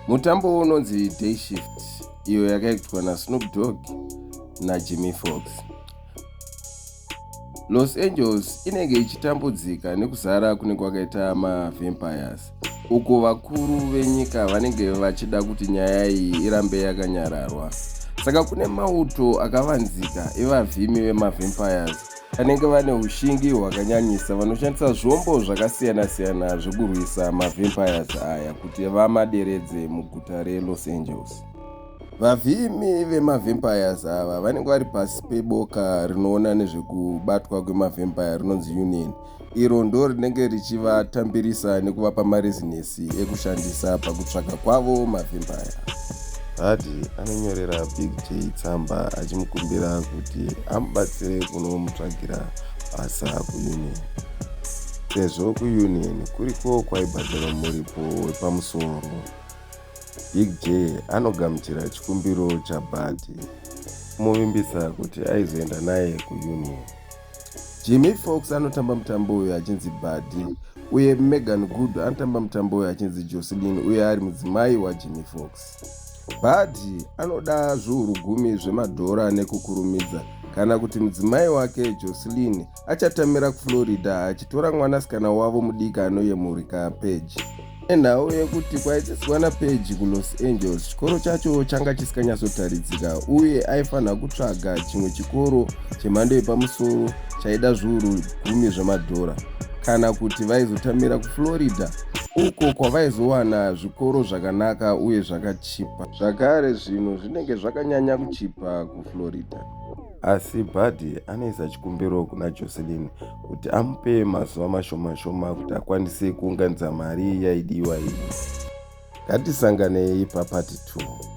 mutambo unonzi day shift iyo yakaitwa nasnoop dog najimmy fox los angeles inenge ichitambudzika nekuzara kunenge kwakaita mavampires uko vakuru venyika vanenge vachida kuti nyaya iyi irambe yakanyararwa saka kune mauto akavanzika evavhimi vemavampires Vanenge vane ushingi hwakanyanyisa vanoshandisa zvombo zvakasiyana-siyana zvekurwisa mavampires aya kuti vamaderedze muguta reLos Angeles. Vavhimi vemavampires ava vanenge vari pasi peboka rinoona nezvekubatwa kwemavampire rinonzi Union iro ndo rinenge richivatambirisa nekuvapa marezinesi ekushandisa pakutsvaga kwavo mavhimbaya hadi anonyorera big j tsamba achimukumbira kuti amubatsire kunomutsvagira basa kuunion sezvo kuunion kuriko kwaibhadharwa muripo wepamusoro big j anogamuchira chikumbiro chabhadi kumuvimbisa kuti aizoenda naye kuunion Jamie Foxx anotamba mutambo uyu achinzi Buddy uye Megan Good anotamba mutambo uyu achinzi Jocelyn uye ari mudzimai waJamie Foxx. Buddy anoda zviuru gumi zvemadhora nekukurumidza kana kuti mudzimai wake Jocelyn achatamira kuFlorida achitora mwanasikana wavo mudiki anoyemurika Page. Nenhau yekuti kwaidzidzwa naPage kuLos Angeles, chikoro chacho changa chisikanyasotaridzika uye aifanira kutsvaga chimwe chikoro chemhando yepamusoro chaida zviuru gumi zvemadhora kana kuti vaizotamira kuFlorida uko kwavaizowana zvikoro zvakanaka uye zvakachipa. Zvakare, zvinhu zvinenge zvakanyanya kuchipa kuFlorida. Asi Buddy anoisa chikumbiro kuna Jocelyn kuti amupe mazuva mashoma shoma kuti akwanise kuunganidza mari yaidiwa iyi. Ngatisanganei papati 2.